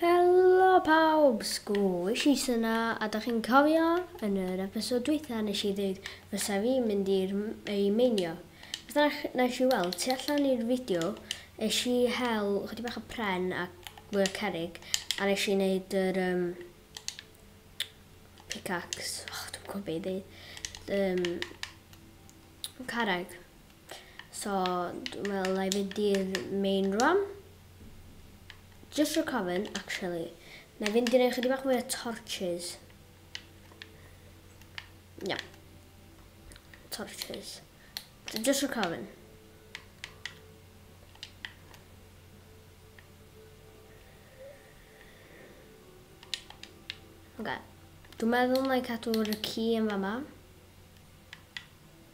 Helo pawb! Sgwis i syna, a da chi'n cofio yn yr episod dwytha nes i ddeud fysa fi mynd i'r ei meinio. Beth arall nes i weld, tu allan i'r fideo, nes i hel chydig bach o pren a mwy o cerig, a nes i wneud yr um, pickaxe, och, dwi'n gwybod beth i ddeud, um, carreg. So dwi'n meddwl na i fynd i'r main rwan. Just recovering, actually. Na i fynd i'r ychydig bach mwy o torches. No. Torches. So just recovering. Okay. Dwi'n meddwl na i cadw'r ci yn fama.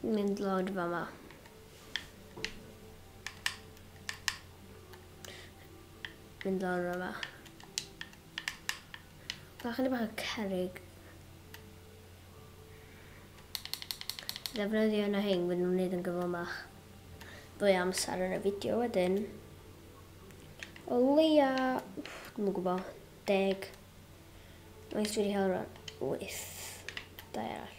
mynd lawr fan 'ma. Mynd lawr fan 'ma. Mae chydig bach o cerrig. Ddefnyddio yna hyn, wedyn nhw'n neud yn gyflymach. Fwy amser yn y fideo wedyn. O leia, dwi'n gwybod, deg. Mae'n dwi wedi cael rhan, wyth. Da arall.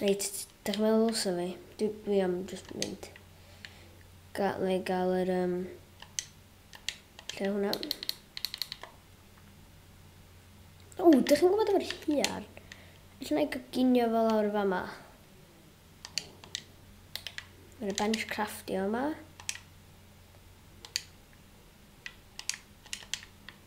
Reit, dych chi'n meddwl ddylsa fi? Dwi, dwi am just mynd. Ga, na i gael yr... Um, lle hwnna? O, dych chi'n gwybod efo'r hiar? Felly na i gyginio fel lawr y fama. Mae'n bench craftio yma.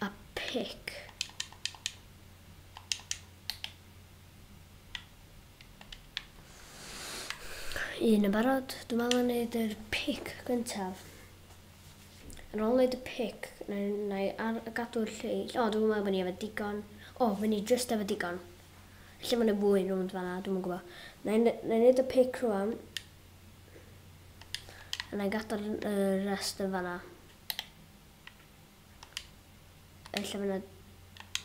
a pic. Un yn barod, dwi'n meddwl yn neud yr pic gyntaf. Yn ôl neud y pic, na i ar gadw'r lleill. O, dwi'n meddwl bod ni efo digon. O, fy ni just efo digon. Lle mae'n ei fwy rhwnd fanna, dwi'n yn gwybod. Na i neud y pic rhwng. A na i gadw'r uh, rest yn fanna. Ella fyna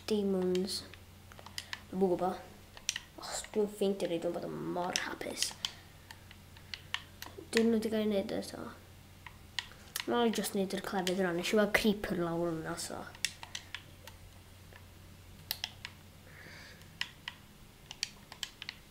demons. Dwi'n gwybod bo. Os dwi'n ffeindio ni, dwi'n bod yn mor hapus. Dwi'n nhw wedi cael ei wneud eto. Mae'n i just wneud yr clefyd yna. Nes i weld creeper lawr yna, so.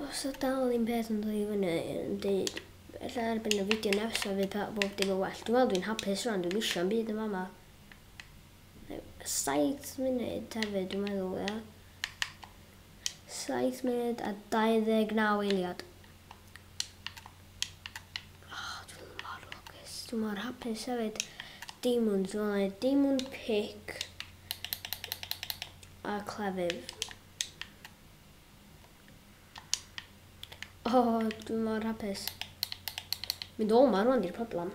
Os o dal un peth yn dod i fyny yn deud, ella erbyn y fideo nefsa fydd pa- bob dim yn well. Dwi'n meddwl dwi'n hapus rwan, dwi'n isio am byd yn fama. Yy, Saith munud hefyd, dwi'n meddwl, ia. Saith munud a 29 eiliad. Dwi mor hapus hefyd. Diamonds, wel mae diamond pick a clefydd. O, oh, dwi mor hapus. Mynd o ma rwan di'r problem.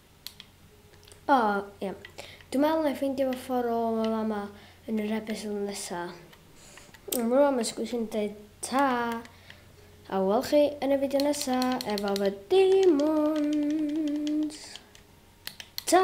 O, ie. Dwi'n meddwl wna i ffeindio fy ffordd ôl o fama yn yr episod nesa. Am rŵan mae Sgwrs yn dweud ta! A wel chi yn y fideo nesa efo fy demons! Ta!